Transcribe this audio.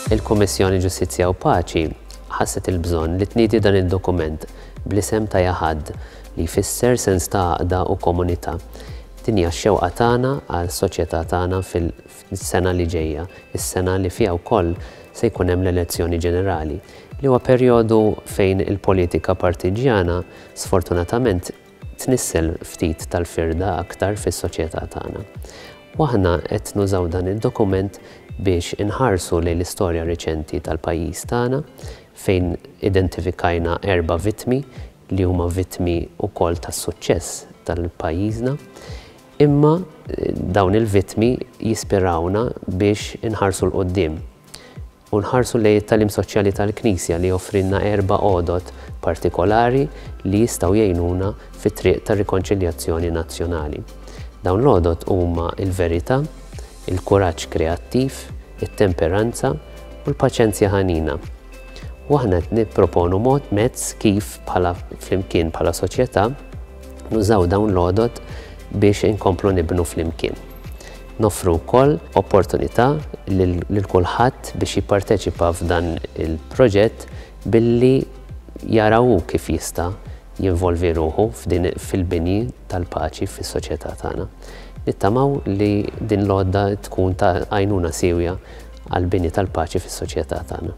Il-Kummissjoni Ġustizzja u Paċi ħasset il-bżonn li tniedi dan id-dokument bl-isem ta' Jahad li jfisser sens ta' għaqda u komunità. Din hija x-xewqa tagħna għal soċjetà tagħna fil is-sena li ġejja, is-sena li fiha wkoll se jkun hemm l-elezzjoni ġenerali, li huwa perjodu fejn il-politika partiġġjana sfortunatament tnissel ftit tal-firda aktar fis-soċjetà tagħna. U aħna qed nużaw dan id-dokument biex inħarsu lejn l-istorja riċenti tal-pajjiż tagħna fejn identifikajna erba' vittmi li huma vittmi wkoll tas-suċċess tal-pajjiżna Imma dawn il-vittmi jispirawna biex inħarsu 'l quddiem u nħarsu lejn it-tagħlim soċjali tal-Knisja li joffrilna erba' għodod partikolari li jistgħu jgħinuna fit-triq tar-rikonċiljazzjoni nazzjonali. Dawn l-għodod huma l-verità, il-kuraġġ kreattiv, it-temperanza u l-paċenzja ħanina. U aħna qed nipproponu mod, mezz, kif bħala flimkien bħala soċjetà, Nużaw dawn l-għodod biex inkomplu nibnu flimkien. Noffru wkoll opportunità lil kulħadd biex jipparteċipa f'dan il-proġett billi jara hu kif jista' jinvolvi ruħu fil-bini tal-paċi fis-soċjetà tagħna. Nittamaw li din l-għodda tkun ta' għajnuna siewja għall-bini tal-paċi fis-soċjetà tagħna.